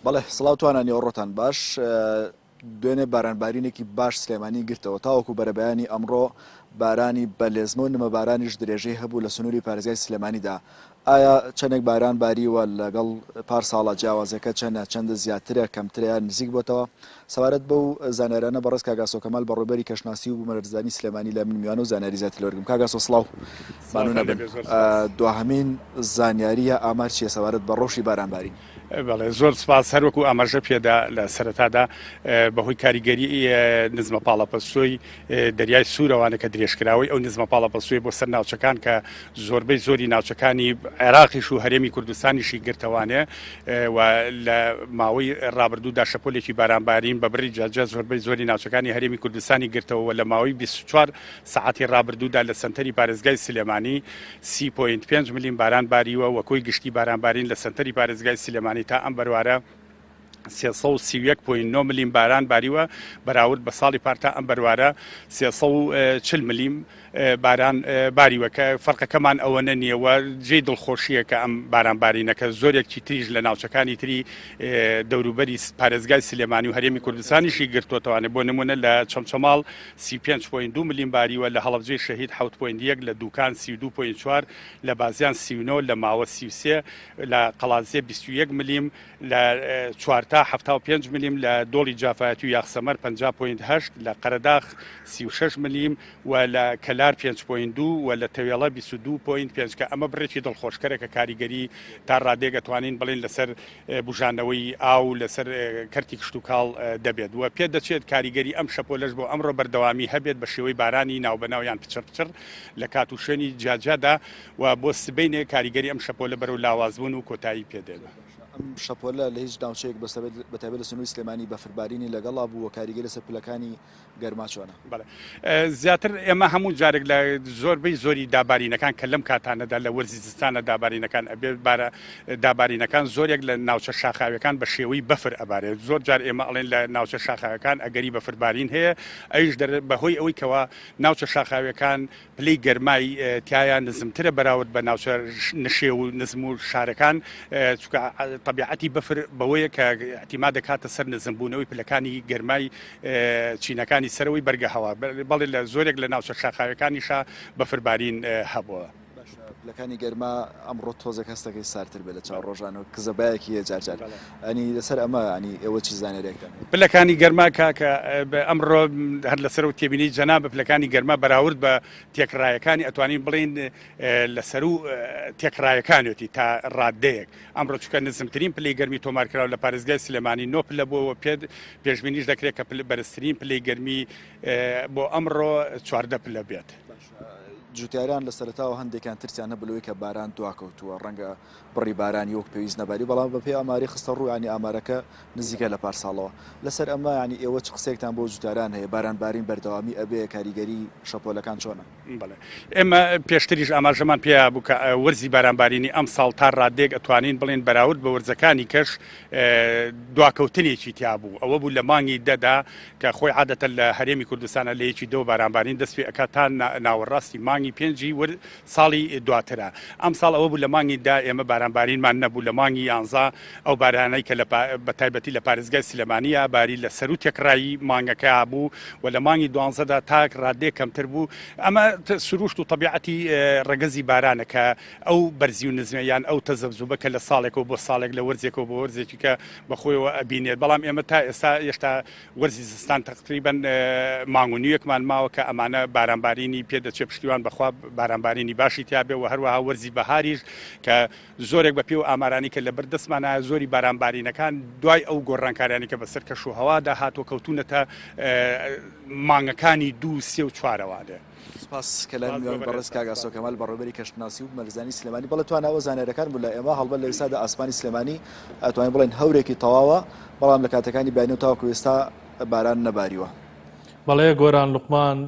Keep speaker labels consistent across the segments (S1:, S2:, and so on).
S1: بەڵێ سڵاو توانە نێوەڕۆتان باش دوێنێ بارانبارینێکی باش سلێمانی گرتەوە تاوەکو بەرەبەیانی ئەمڕۆ بارانی بە لێزمە و نمە بارانیش درێژەی هەبوو لە سنووری پارێزگای سلێمانیدا ئایا چەندێک باران باریوە لەگەڵ پار ساڵە جیاوازەکە چەندە چەندە زیاترە کەمتریان نزیک بۆتەوە سەبارەت بەو زانیارانە بەڕێز کاک ئاسۆ کەمال بەڕێوبەری کەشناسی و بومەلەرزەزانی سلێمانی لای من میوانە و زانیاری زیاتر لێوەرگرم کاک ئاسۆ سڵاو ممنون ئەبم دواهەمین زانیاریە ئامار چیە سەبارەت بە ڕەوشی باران بارین. بەڵێ زۆر
S2: سپاس هەروەکو ئاماژە پێدا لە سەرەتادا بەهۆی کاریگەری نزمە پاڵەپەستۆی دەریای سوورەوانە کە درێژکراوەی ئەو نزمە پاڵەپەستوویە بۆ سەر ناوچەکان کە زۆربەی زۆری ناوچەکانی عێراقیش و هەرێمی کوردستانیشی گرتەوانێ و لە ماوەی ڕابردوودا شەپۆلێکی بارانبارین بە بڕی جاجە زۆربەی زۆری ناوچەکانی هەرێمی کوردستانی گرتەوە لە ماوەی 24 سعاتی ڕابردوودا لە سنتەری پارێزگای سلێمانی 3.5 ملیم باران باریوە وەکۆی گشتی بارانبارین لە سنتەری پارێزگای سلێمانی تا ئەم بەروارە سێ سەد و سی و یەک پۆینت نۆ ملیم باران باریوە بەراورد بە ساڵی پارتا ئەم بەروارە سێ سەد و چل ملیم باران باریوە کە فەرقەکەمان ئەوەنە نییە و جێی دڵخۆشییە کە ئەم بارانبارینەکە زۆرێکی تریش لە ناوچەکانی تری دەوروبەری پارێزگای سلێمانی و هەرێمی کوردستانیشی گرتوتوانێت بۆ نمونە لە چەمچەماڵ سی پێنج پۆین دو ملیم باریوە لە هەڵبجێ شەهید حوت پۆین یەک لە دوکان سی دو پۆین چوار لە بازیان سیونۆ لە ماوە سیوسێ لە قەڵازیە بیست و یەک ملیم لە چوار تا حەفتا و پێنج ملیم، لە دۆڵی جافایەتی و یاخسەمەر پەنجا پۆینت هەشت، لە قەرەداخ سی و شەش ملیم و لە کەلار پێنج پۆینت دوو و لە تەوێڵە بیست و دوو پۆینت پێنج کە ئەمە بڕێکی دڵخۆشکەرە کە کاریگەری تا ڕادەیەک ئەتوانین بڵێین لەسەر بوژانەوەی ئاو لەسەر کەرتی کشتوکاڵ دەبێت و پێدەچێت کاریگەری ئەم شەپۆلەش بۆ ئەمڕۆ بەردەوامی هەبێت بە شێوەی بارانی ناوبەناو یان پچڕ پچڕ لە کات و شوێنی جیاجیادا و بۆ سبەینێ کاریگەری ئەم شەپۆلە بەرەو لاوازبوون و کۆتایی پێدێنە. ئەم شەپۆلە
S1: لە هیچ ناوچەیەک بەستەبێت بەتایبەت لە سنووری سلێمانی بەفربارینی لەگەڵا بوو و کاریگەری لەسەر پلەکانی گەرما چۆنە؟ بەڵێ زیاتر
S2: ئێمە هەموو جارێک لە زۆربەی زۆری دابارینەکان کە لەم کاتانەدا لە وەرزی زستانە دابارینەکان ئەبێت بارە دابارینەکان زۆرێک لە ناوچە شاخاویەکان بە شێوەی بەفر ئەبارێت زۆر جار ئێمە ئەڵێن لە ناوچە شاخاوەکان ئەگەری بەفربارین هەیە ئەویش دەر بەهۆی ئەوەی کەوا ناوچە شاخاویەکان پلەی گەرمای تیایا نزمترە بەراورد بە ناوچە نشێو و نزم و شارەکان چکە طبیعەتی بەفر بەوەیە کە ئەتیما دەکاتە سەر نزمبوونەوەی پلەکانی گەرمای چینەکانی سەرەوەی بەرگە هەوا بەڵێ لە زۆرێک لە ناوچە شاخاوەکانیشا بەفربارین هەبووە. لەکانی
S1: گەرما ئەمڕۆ تۆزێک هەستەکەی سارتر بێت لە چاو ڕۆژانەوە کزەبایەکی هەیە جارجار یانی لەسەر ئەمە یانی ئێوە چ زانیاریەکتان هەیە؟ پلەکانی گەرما
S2: کاکە ئەمڕۆ هەر لەسەر و تێبینی جەنابە پلەکانی گەرما بەراورد بە تێکڕایەکانی ئەتوانین بڵین لەسەر و تێکڕایەکانێتی تا ڕاددەیەک ئەمڕۆ چکە نزمترین پلی گەرمی تۆمارکراو لە پارێزگای سلێمانی نۆ پلە بۆەوە پێت پێشببینیش دەکرێت کە پل بەرزترین پلی گەرمی بۆ ئەمڕۆ چواردە پلە بێت. جوتیاران
S1: لە سەرتاوە هەندێکان ترسیان هەبوو لەوەی کە باران دواکەوتووە ڕەنگە بڕی بارانی وەک پێویست نەباری بەڵام بە پێی ئاماری خستە ڕوو یانی ئامارەکە نزیکە لە پار ساڵەوە لەسەر ئەمە یانی ئێوە چ قسەیەکتان بۆ جوتیاران هەیە باران بارین بەردەوامی ئەبێ کاریگەری شەپۆلەکان چۆنە؟ بەڵێ ئێمە
S2: پێشتریش ئاماژەمان پێیا بوو کە وەرزی باران بارینی ئەم ساڵ تا ڕادەیەک ئەتوانین بڵێن بەراورد بە وەرزەکانی کەش دواکەوتنێکی تیا بوو ئەوە بوو لە مانگی دەدا کە خۆی عادەتە لە هەرێمی کوردستانە لە یەکی دەوە باران بارین دەست پێ ئەکات تا ناوەڕاستی مانگی پێنجی ساڵی دواترە ئەم ساڵ ئەوە بوو لە مانگی دا ئێمە بارانبارینمان نەبوو لە مانگی یانزە ئەو بارانەی کە بە تایبەتی لە پارێزگای سلێمانیە باری لە سەرو تێکڕایی مانگەکە بوو و لە مانگی دوانزەدا تاک ڕادێ کەمتر بوو ئەمە سروشت و طبیعەتی ڕگەزی بارانە کە ئەو بەرزی و نزمە یان ئەو تەزەبزوبە کە لە ساڵێکەوە بۆ ساڵێک لە وەرزێکەوە بۆ وەرزێکیکە بەخۆیەوە ئەبینێت بەڵام ئێمە تا ئێستا هێشتا وەرزی زستان تەقتریبەن مانگ و نیوێکمان ماوە کە ئەمانە بارانبارینی پێ دەچێ پشتیوان بەخوا بارانبارینی باشی تیاابێ و هەروەها وەرزی بەهاریش کە زۆرێک بە پێ و ئامارانی کە لە بەردەستمانە زۆری بارانبارینەکان دوای ئەو گۆڕانکاریانی کە بەسەر کەش و هەوادا هاتووە کەوتونەتە مانگەکانی دوو سێ و چوارەوانێ. سپاس کەلای
S1: میوان بەڕێز کاک ئاسۆ کەمال بەڕێوەبەری کەشناسی و بنەرزانی سلێمانی بەڵێ توانەوە زانیاریەکان بوو لە ئێمە هەڵبەت لە ئێستادا ئاسمانی سلێمانی ئەتوانین بڵێن هەورێکی تەواوە بەڵام لە کاتەکانی بینی و تاوەکو ئێستا باران نەباریوە بەڵێ
S3: گۆران لوقمان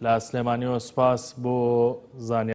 S3: لە سلێمانیەوە سپاس بۆ زانیاری